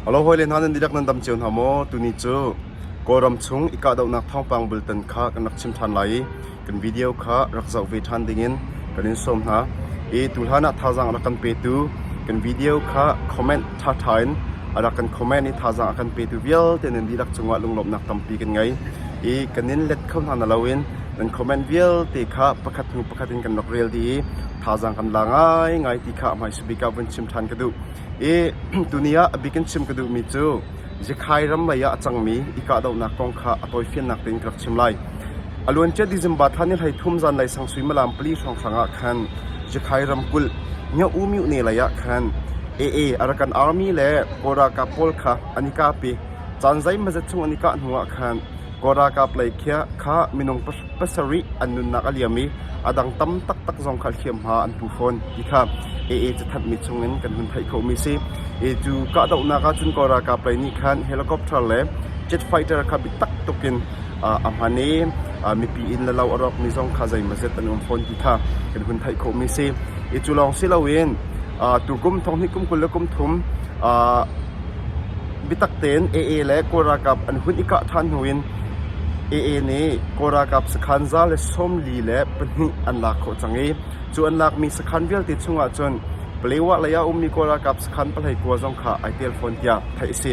Alo hawile hna nan dihlak nan dam cio hna maw? Tuni cu Kawlram chung i kahdohnak thawngpang bultan kha kan rak chim ṭhan lai i kan video kha rak zoh ve ṭhan dingin kan in sawm hna. I tuhlan ah thazaang a rak kan petu kan video kha comment ṭhaṭha in a rak kan comment i thazaang a kan petu vialte nan dihlak cungah lunglawmhnak tampi kan ngei. I kan in let kho hna naloin nan comment vialte kha pakhat hnu pakhat in kan rak rel dih i thazaang kan la ngaingai ti kha a hmaisuah. bik ah vun chim ṭhan ka duh. I tuni ah a bik in chim ka duhmi cu Zikhai ram mei ah a cangmi i kahdohnak kong kha a tawifiannak tein ka rak chim lai. A luancia December thla ni hlei thum zanlei sang suimilam pali hrawnghrang ah khan Zikhai ramkulh Nyaumi ne lei ah khan AA Arakan Army le Kawl ralkap pawl kha an i kap i caan zeimazet chung an i kah hnu ah khan Kawl ralkap lei kha minung pasarih an nunnak a liam i a dang tam taktak zong kha hliamhma an pu fawn ti kha AA cathanhmi chungin kan hun theih khomi si. E cu kahdohnak ahcun Kawl ralkap lei nih khan helicopter le jet fighter kha biatak tukin a hman i mipi in le lo a rawkmi zong kha zeimazet an um fawn ti kha kan hun theih khomi si. E cu lawng si loin tukum thonghnih kum kul le kum thum biatak tein AA le Kawl ralkap an hun i kah than hnu in AA nih Kawl ralkap sakhan za le sawm li le pahnih an lak khawh cang i cu an lakmi sakhan vialte chungah cun Palewa lei ah a ummi Kawl ralkap sakhan pahlei kua zong kha ai tel fawn tiah theih a si.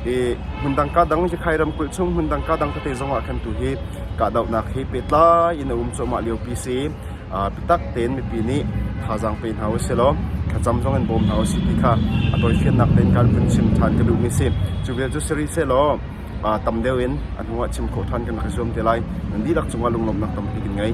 I hmundang kaa dang Cikgai ramkulh chung hmundang kaa dang tete zong ah khan tu hi kahdohnak hi pehtlai in a um cuahmah liopi si i aa bitak tein mipi nih thazaang pe hna u silaw thlacam zong in bawm hna u sih ti kha a tawifiannak tein kan vun chim ṭhan ka duhmi a si. Cu vial cu si rih sehlaw tam deuh in a hnuah chim khawh ṭhan kan rak i zuam te lai. Nan dihlak cungah lunglawmhnak tampi kan ngei.